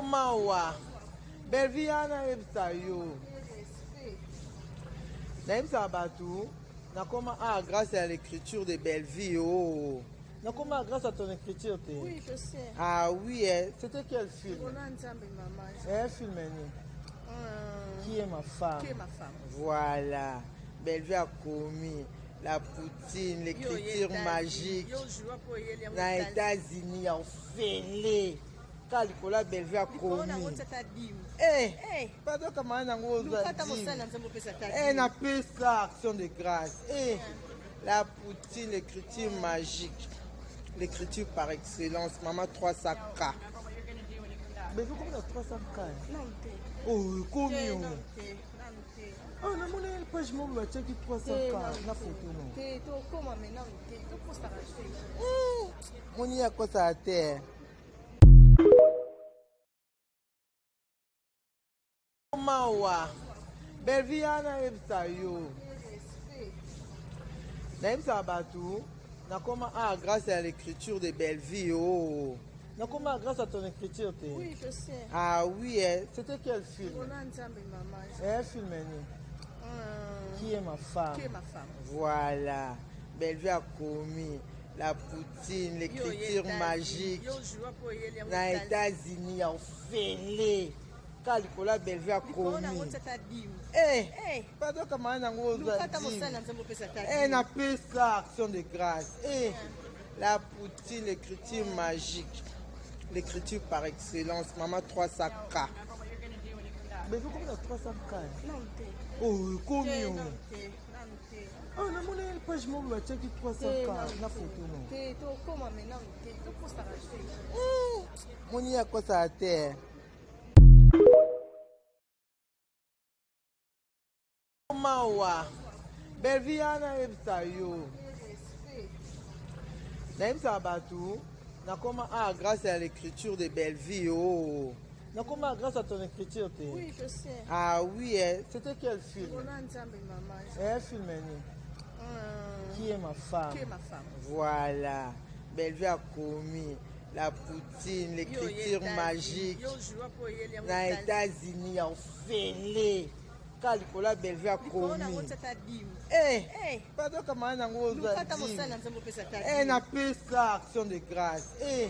mawa belvi yana ayebisa yo nayebisaka bato nakoma ah grâce à l'écriture de bellevie oh nakoma grâce à ton écriture te oui, je sais. ah oui eh, c'était quel film eh, film ni euh... qui est ma femme qui est ma femme voilà bellevue akomi la poutine l'écriture magique na états-unis ya ofele kaka likolo ya bellevue akomi eh, eh. pado kamana nango ozwadi napesa eh, action de grâce eh, la poutine l'écriture magique l'écriture par excellence mama 300 k bellevue komi na 300 k oyo komi o ah namoni page moko batiaki 300 k na foto no moni akosaka te mawa belvia nayebisa yo nayebisaka bato nakoma ah grâce à l'écriture de bellevie oh nakoma grâce à ton écriture te oui, je sais. ah oui eh. c'était quel film eh, film ni euh... qui est ma femme qui est ma femme voilà bellevie akomi la poutine l'écriture magique na états-unis ya ofele kaka likolo ya bellevue akomi pado kamana nango ozwadi napesa action de grâce eh, la poutine l'écriture magique l'écriture par excellence mama 300 k bezokomi na 300 k oyo ekomi Ah, namoni ye page moko batiaki 300 na foto moni ye akosaka te mawa belvi ya nayebisa yo nayebisaka bato nakoma a ah, grâce ya l'écriture de bellevie o oh. Nakoma grâce à ton écriture te. Oui, je sais. Ah oui, eh, c'était quel film Roland Nzambe maman. Eh, film ni. Euh, Qui est ma femme Qui est ma femme Voilà. Bellevue a commis la poutine, l'écriture magique. Yo joua po yeli yango. Na États-Unis ya ofele. Ka likolo ya Bellevue a Likolo na commis. ngotsa ta dime. Eh, Eh, pardon kama nango ozwa lukata dime. mosala nzambe opesa ta Eh, dime. napesa action de grâce. Eh,